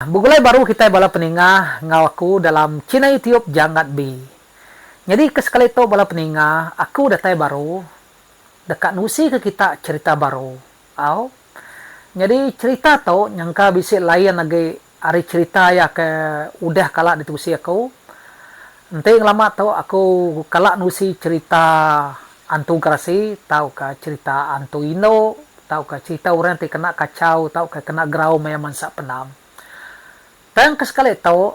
Begulai baru kitai bala peninga enggau aku dalam china youtube jangat bi. Nyadi ke sekali tu bala peninga aku datai baru deka nusi ke kita cherita baru. Au. Nyadi cherita tu nyangka bisi lain agi ari cherita iya ke udah kala ditusi aku. Enti ngelama tu aku kala nusi cherita Antung Kerasi tauka cherita antung indu tauka cherita orang ti kena kachau tauka kena gerau maya mansa penam. Tang ke sekali tu,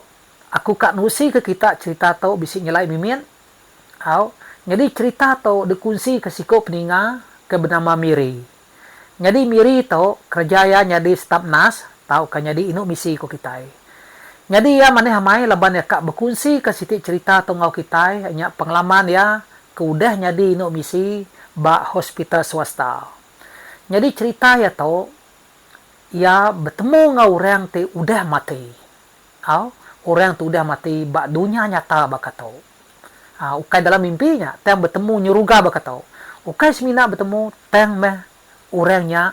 aku ka nerusika kita cherita tu bisi nyelai mimit. Au, nyadi cherita tu dikunsika siku peninga ke benama Miri. Nyadi Miri tu, kereja iya nyadi stap nas tauka nyadi indu misi ku kitai. Nyadi iya manih amai laban iya ka bekunsika siti cherita tu enggau kitai nya pengalaman iya ke udah nyadi indu misi ba hospital swasta. Nyadi cherita iya tu, iya betemu enggau orang ti udah mati. Au, orang tu udah mati ba dunya nyata baka tu. Au, ukai dalam mimpi nya, tang betemu nyeruga baka tu. Ukai semina betemu, tang meh orang nya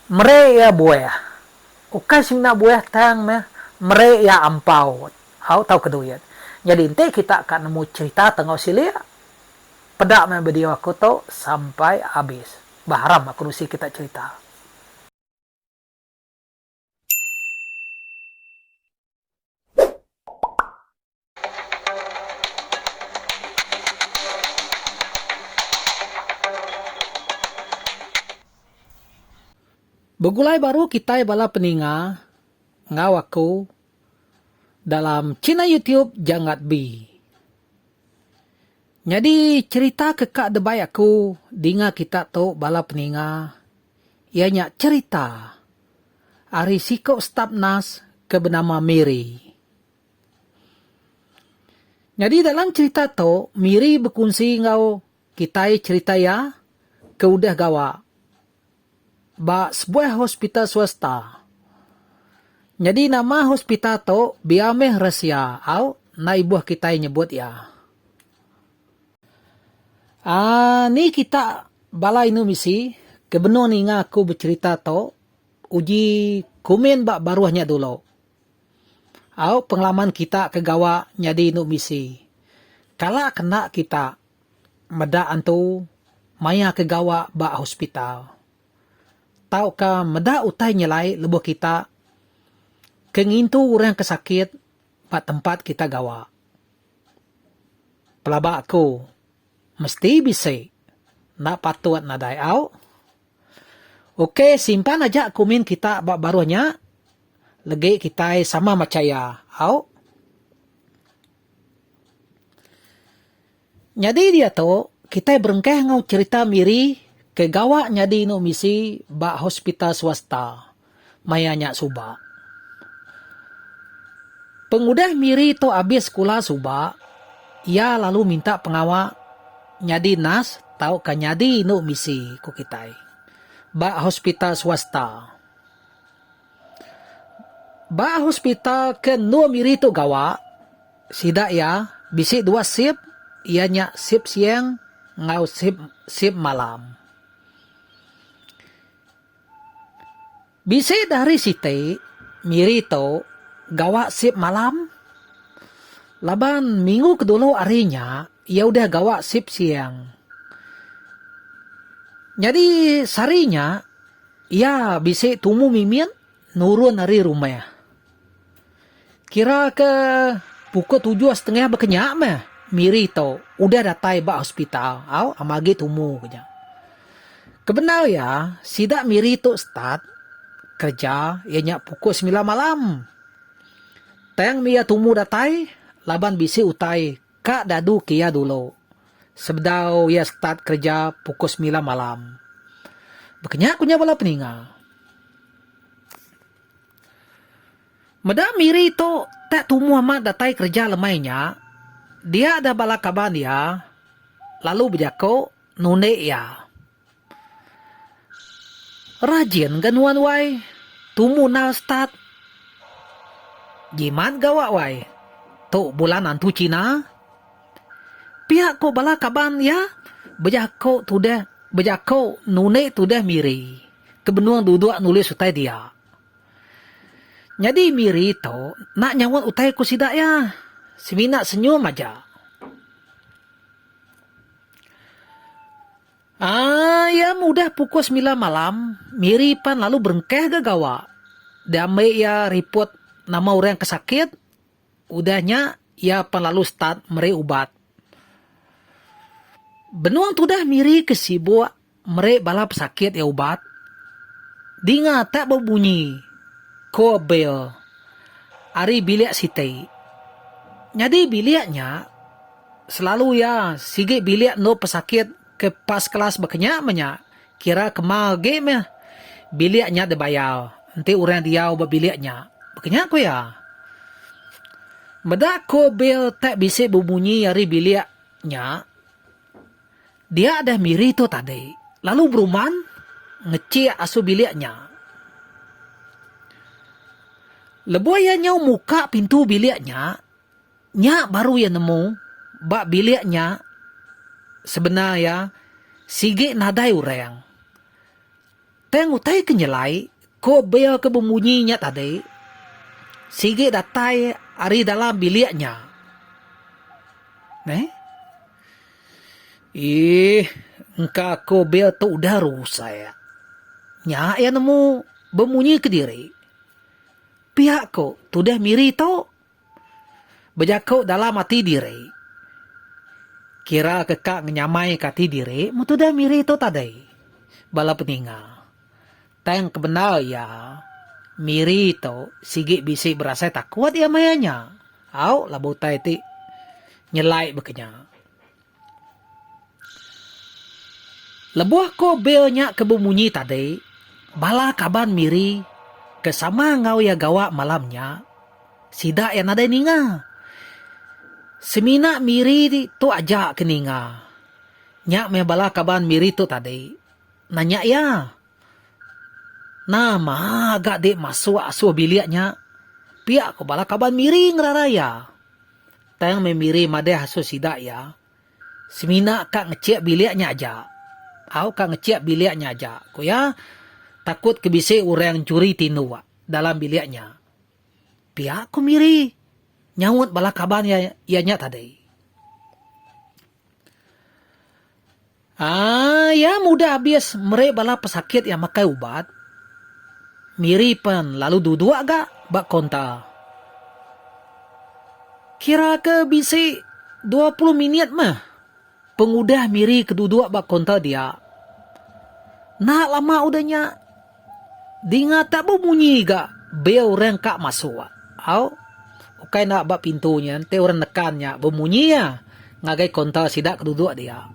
mere iya buah. Ukai semina buah, tang meh mere iya ampau, au, tauka duit. Nyadi enti kita ka nemu cherita Tengau Silik, peda meh video aku tu sampai abis. Bah haram aku nusi kita cherita. Begulai baru kitai bala peninga enggau aku dalam channel YouTube Janggat Bee. Nyadi cherita ke ka debai aku dinga kita tu bala peninga iya nya cherita ari siku staf nas ke benama Miri. Nyadi dalam cherita tu Miri bekunsi enggau kitai cherita iya ke udah gawa ba sebuah hospital swasta. Nyadi nama hospital tu biar meh rahsia au enda ibuh kitai nyebut iya. Aaa ni kita bala indu misi ke benung ninga aku becerita tu uji komen ba baruh nya dulu. Au pengalaman kita ke gawa nyadi indu misi. Kala ke enda kita meda antu maya ke gawa ba hospital tauka meda utai nyelai lebuh kita ke ngintu orang ke sakit ba tempat kita gawa. Pelaba aku mesti bisi enda patut nadai au. Ok simpan aja kumin kita ba baruh nya legi kitai sama macha iya au. Nyadi diatu kitai berengkah enggau cherita Miri ke gawa nyadi inu misi ba hospital swasta. maya nya suba. Pengudah Miri tu abis sekula suba, iya lalu minta pengawa nyadi nas tauka nyadi indu misi ku kitai ba hospital swasta. Ba hospital ke endur Miri tu gawa, sida iya bisi dua shift iya nya shift siang enggau shift shift malam. Bisi da hari siti Miri tu gawa sip malam laban minggu ke dulu hari nya iya udah gawa sip siang. Nyadi sehari nya iya bisi tumu mimit nurun ari rumah. Kira ke pukul tujuh setengah bekenya meh Miri tu udah datai ba hospital au ama agi tumu ku nya. Kebendar iya sida Miri tu start kereja iya nya pukul semilan malam. Tang meh iya tumu datai laban bisi utai ka dadu ke iya dulu sebedau iya start kereja pukul semilan malam. Bekenya ku nya bala peninga. Meda Miri tu tak tumu amat datai kereja lemai nya, dia deh bala kaban iya lalu bejaku nundi iya. Rajin ga nuan wai, tumu nal start. Jimat gawa wai, tu bulan antu China. Pia ko bala kaban iya bejaku tudah bejaku nundi tudah Miri. ke benung duduk nulis utai dia. Nyadi Miri tu enda nyaut utai ku sida iya. Semina senyum aja. Aaa iya meh udah pukul semilan malam, Miri pan lalu berengkah ga gawa. Diambi iya ripot nama orang ke sakit, Udah nya iya pan lalu start meri ubat. Benung tudah Miri ke sibuk meri bala pesakit iya ubat, dinga tak bebunyi ko bel ari bilik siti. Nyadi bilik nya selalu iya sigi bilik endur pesakit ke pas kelas ba kenya menya. Kira kemal agi meh bilik nya dibayar enti orang diau ba bilik nya, baka nya ku iya. Meda ku bil tap bisi bemunyi ari bilik nya, dia deh Miri tu tadi lalu beruman ngechik asu bilik nya. Lebuh iya nyau muka pintu bilik nya, Nya baru iya nemu ba bilik nya sebenar iya sigi nadai orang. Tang utai ke nyelai ko bel ke bemunyi nya tadi sigi datai ari dalam bilik nya. Meh. Eeh engka ko bel tu udah rusak. Nya iya nemu bemunyi kediri. Pia ko tudah miri tu. Bejaku dalam ati diri. Kira ke ka ngenyamaika ati diri mun tudah Miri tu tadi. Bala peninga. Tang kebendar iya, Miri tu sigi bisi berasai takut iya maya nya. Au labu utai ti nyelai baka nya. Lebuh ko Bill nya ke bemunyi tadi, bala kaban Miri ke sama enggau iya gawa malam nya, sida iya nadai ninga. Semina Miri tu aja ke ninga. Nya meh bala kaban Miri tu tadi nanya iya, Nama ga dik masuk asuh bilik nya? Pia ko bala kaban Miri ngerara iya. Tang meh Miri madah asu sida iya, Semina ka ngechik bilik nya aja. Au ka ngechik bilik nya aja, ku iya. Takut ke bisi orang nchuri tinduk dalam bilik nya. Pia ku Miri nyaut bala kaban iya nya tadi. Haa iya mudah abis meri bala pesakit iya makai ubat. Miri pen lalu duduk ga ba kaunta. Kira ke bisi dua puluh minit meh pengudah Miri ke duduk ba kaunta dia. Enda lama udah nya. Dinga tak bemunyi ga bel orang ka masuk. Au. Ukai enda ba pintu nya enti orang nekan nya bemunyi iya ngagai kaunter sida ke duduk dia.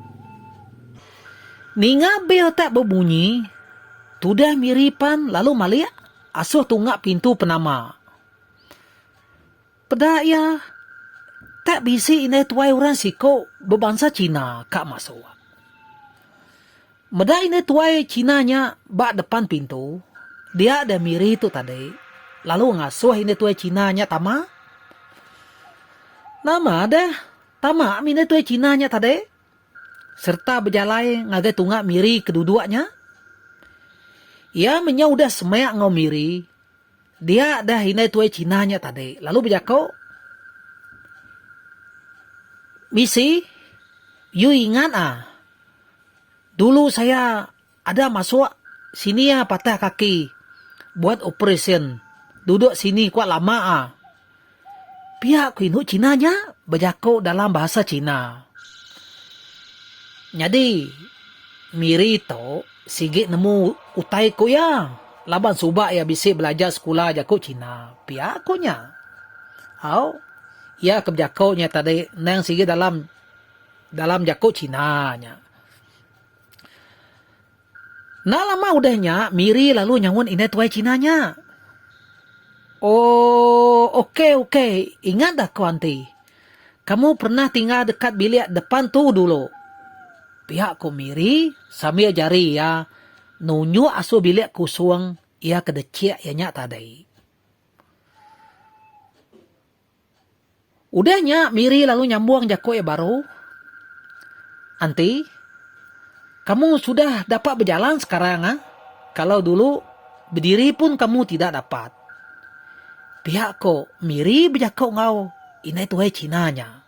Ninga bel tak bemunyi, tudah Miri pan lalu malik asuh tunga pintu penama. Peda iya, tak bisi indai tuai orang siku bebansa China ka masuk. Meda indai tuai China nya ba depan pintu, dia deh Miri tu tadi lalu ngasuh indai tuai China nya tama. Nama deh tama mih indai tuai China nya tadi sereta bejalai ngagai tunga Miri ke duduk nya. Iya menyau udah semek enggau Miri. Dia deh indai tuai China nya tadi lalu bejako, Misi, yu ingat ah, dulu saya ada masuk sini ah patah kaki buat operasyen, dudok sini kuak lama ah. Pia ku indu China nya bejako dalam bahasa China. Nyadi Miri tu sigi nemu utai ku iya laban suba iya bisi belajar sekula jako China, pia ku nya. Au, iya ke bejako nya tadi endang sigi dalam dalam jako China nya. Enda lama udah nya, Miri lalu nyaut indai tuai China nya. Oh, okey, okey. Ingat dah ko anti. Kamu pernah tinggal dekat bilik depan tu dulu. Pia ko Miri sambil jari iya nunjuk asul bilik kusung iya ke dechik iya nya tadi. Udah nya Miri lalu nyambung jaku iya baru, Anti, kamu sudah dapat bejalan sekarang ah. Kalau dulu bediri pun kamu tidak dapat. Pihak ko Miri bejaku enggau indai tuhai Cina nya.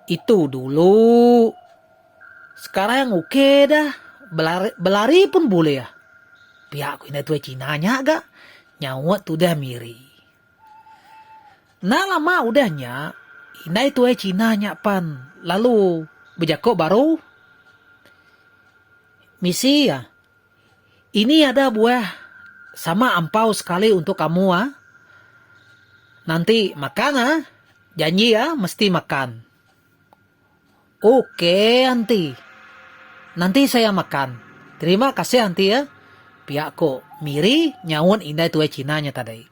Itu dulu. Sekarang ok dah. Belari pun bulih. Pia ku indai tuai Cina nya ga nyaut tudah miri. Enda lama udah nya, indai tuai Cina nya pan lalu bejako baru. Misi iya. Ini ada buah sama ampau sekali untuk kamu ah. Nanti makan ah. Janji ah mesti makan. Oke anti. Nanti saya makan. Terima kasih anti ah. Pia ko Miri nyaut indai tuai Cina nya tadi.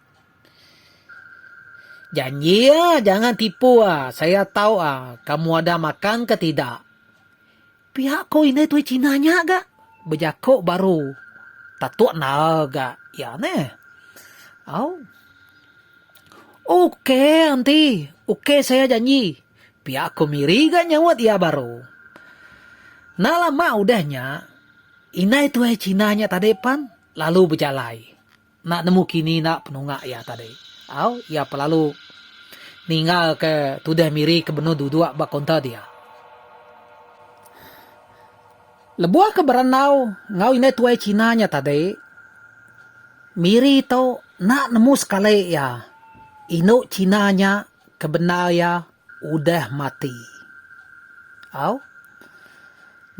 Janji ah jangan tipu ah. Saya tau ah kamu ada makan ke tidak. Pia ko indai tuai Cina nya ga. Bejako baru tatuk nal ga iya neh. Au. Ok anti, ok saya janji. Pia ko Miri ga nyaut iya baru. Enda lama udah nya, indai tuai Cina nya tadi pan lalu bejalai. Enda nemu kini enda penunga iya tadi au iya pelalu ninggal ke tudah miri ke benung duduk ba kaunter dia. Lebuh ke berandau enggau indai tuai China nya tadi, miri tu enda nemu sekali iya indu China nya. Ke bendar iya udah mati. Au.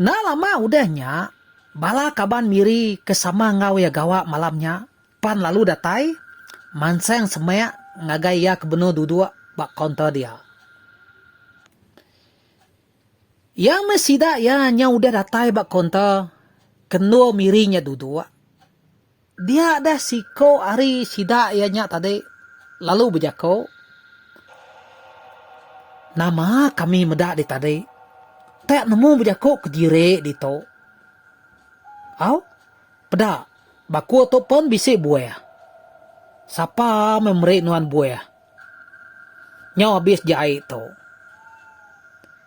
Enda lama udah nya, bala kaban Miri ke sama enggau iya gawa malam nya pan lalu datai mansang semak ngagai iya ke benung duduk ba kaunter dia. Iya meh sida iya nya udah datai ba kaunter ke endur Miri nya duduk. Dia deh siko ari sida iya nya tadi lalu bejako, Nama kami meda di tadi, tek nemu bejako ke diri ditu. Au, peda, bako tu pen bisi buah. Sapa meh meri nuan buah nyau abis jai tu.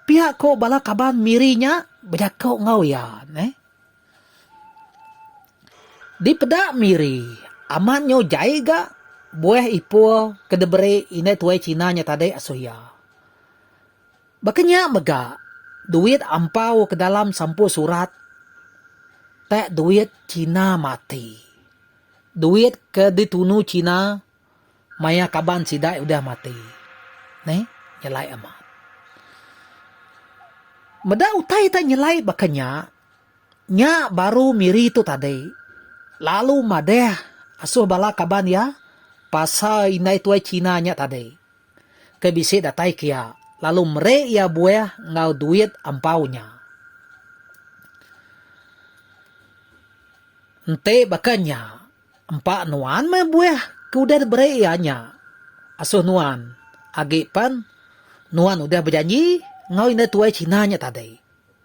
Pia ko bala kaban Miri nya bejako enggau iya. Dipeda Miri, amat nyau jai ga buah ipoh ke diberi indai tuai China nya tadi asoh iya. Baka nya mega duit ampau ke dalam sampul surat tak duit China mati. Duit ke ditunu China. Maya kaban sidai udah mati. Neh, nyelai amat. Meda utai ta nyelai baka nya, nya baru Miri tu tadi lalu madah asuh bala kaban iya pasal indai tuai China nya tadi ke bisi datai ke iya lalu meri iya buah enggau duit ampau nya. Enti baka nya. Empa nuan meh buah ke udah diberi iya nya asuh nuan, agi pen nuan udah bejanji enggau indah tuai China nya tadi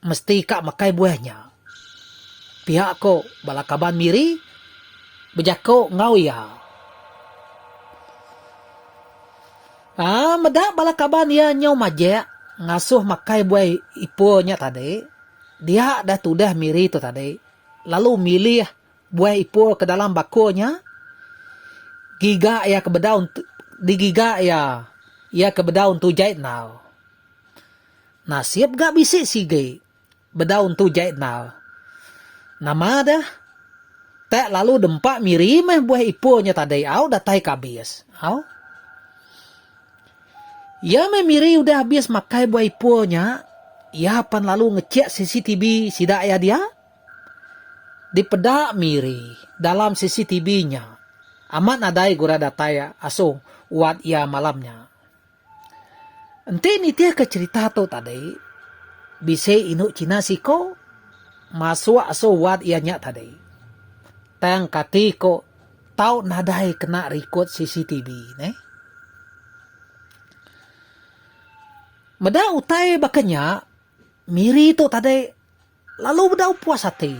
mesti ka makai buah nya, pihak ko bala kaban Miri bejako enggau iya. Aa meda bala kaban iya nyau majek ngasuh makai buah ipoh nya tadi, dia dah tudah Miri tu tadi lalu milih. Buai Ipoh ke dalam bakul nya giga iya ke bedau digiga iya iya ke bedau Entu Jai Enal. Nasib ga bisi sigi bedau Entu Jai Enal. Nama deh tak lalu dempa miri meh Buai Ipoh nya tadi au datai ke abis. Au. Iya meh miri udah abis makai Buai Ipoh nya, iya pan lalu ngechek CCTV sida iya dia. Dipeda Miri dalam CCTV nya, amat nadai gura datai asoh uat iya malam nya. Enti nitihka cherita tu tadi, bisi indu China siko masuk asoh uat iya nya tadi. Tang kati ko tau nadai kena rikod CCTV neh. Meda utai baka nya, Miri tu tadi Lalu bedau puas ati.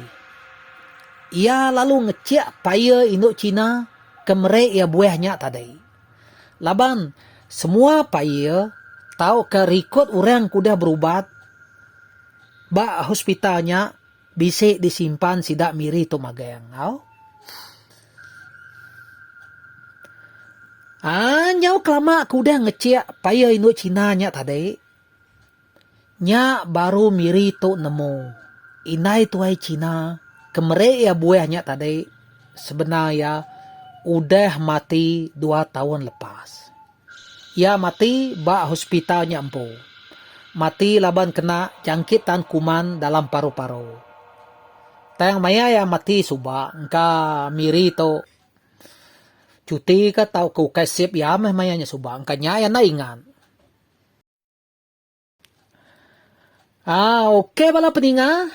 Iya lalu ngechik paya indu China ke meri iya buih nya tadi. Laban, semua paya tauka rikod orang ke udah berubat ba hospital nya bisi disimpan sida Miri tu magang. Au. Aaa nyau kelama aku udah ngechik paya indu China nya tadi, Nya baru Miri tu nemu indai tuai China ke meri iya buih nya tadi sebenar iya udah mati dua taun lepas. Iya mati ba hospital nya empu. Mati laban kena jangkit tan kuman dalam paru-paru. Tang maya iya mati suba engka Miri tu cuti ka tauka ukai sip iya meh maya nya suba. Engka nya iya enda ingat. Aa ok bala peninga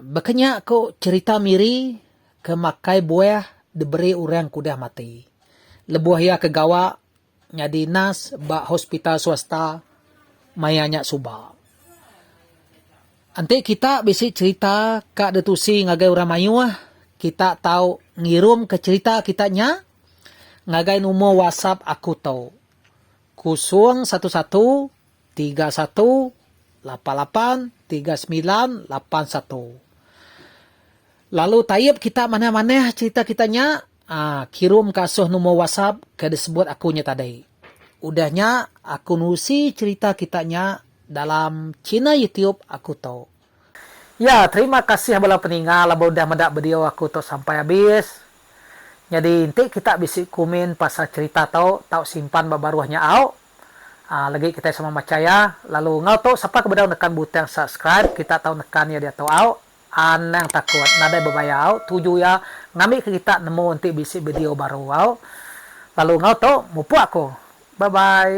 baka nya ko cerita miri ke makai buah diberi orang ke udah mati lebuh iya ke gawa nyadi nurse ba hospital swasta maya nya suba. Enti kita bisi cerita ka ditusi ngagai orang mayuh kita tau ngirum ke cerita kita nya ngagai number whatsapp aku to. Kosong satu satu tiga satu lapan lapan tiga semilan lapan satu Lalu taip kita manah-manah cerita kita nya aaa kirum ka asoh numor wasap ke disebut aku nya tadi. Udah nya aku nusi cerita kita nya dalam china youtube aku tu. Ya terima kasih bala peninga laban udah meda bideo aku tu sampai abis. Nyadi enti kita bisi kumin pasal cerita tu tau simpan ba baruh nya au. Aa legi kitai sama macha ya. Lalu enggau tu sapa ke bedau nekan butang subscribe kita tau nekan ya diatu au. Anang takut nadai bebaya au tuju ya ngambi ke kita nemu enti bisi bideo baru au. Lalu enggau tu mupuk aku. Bye bye.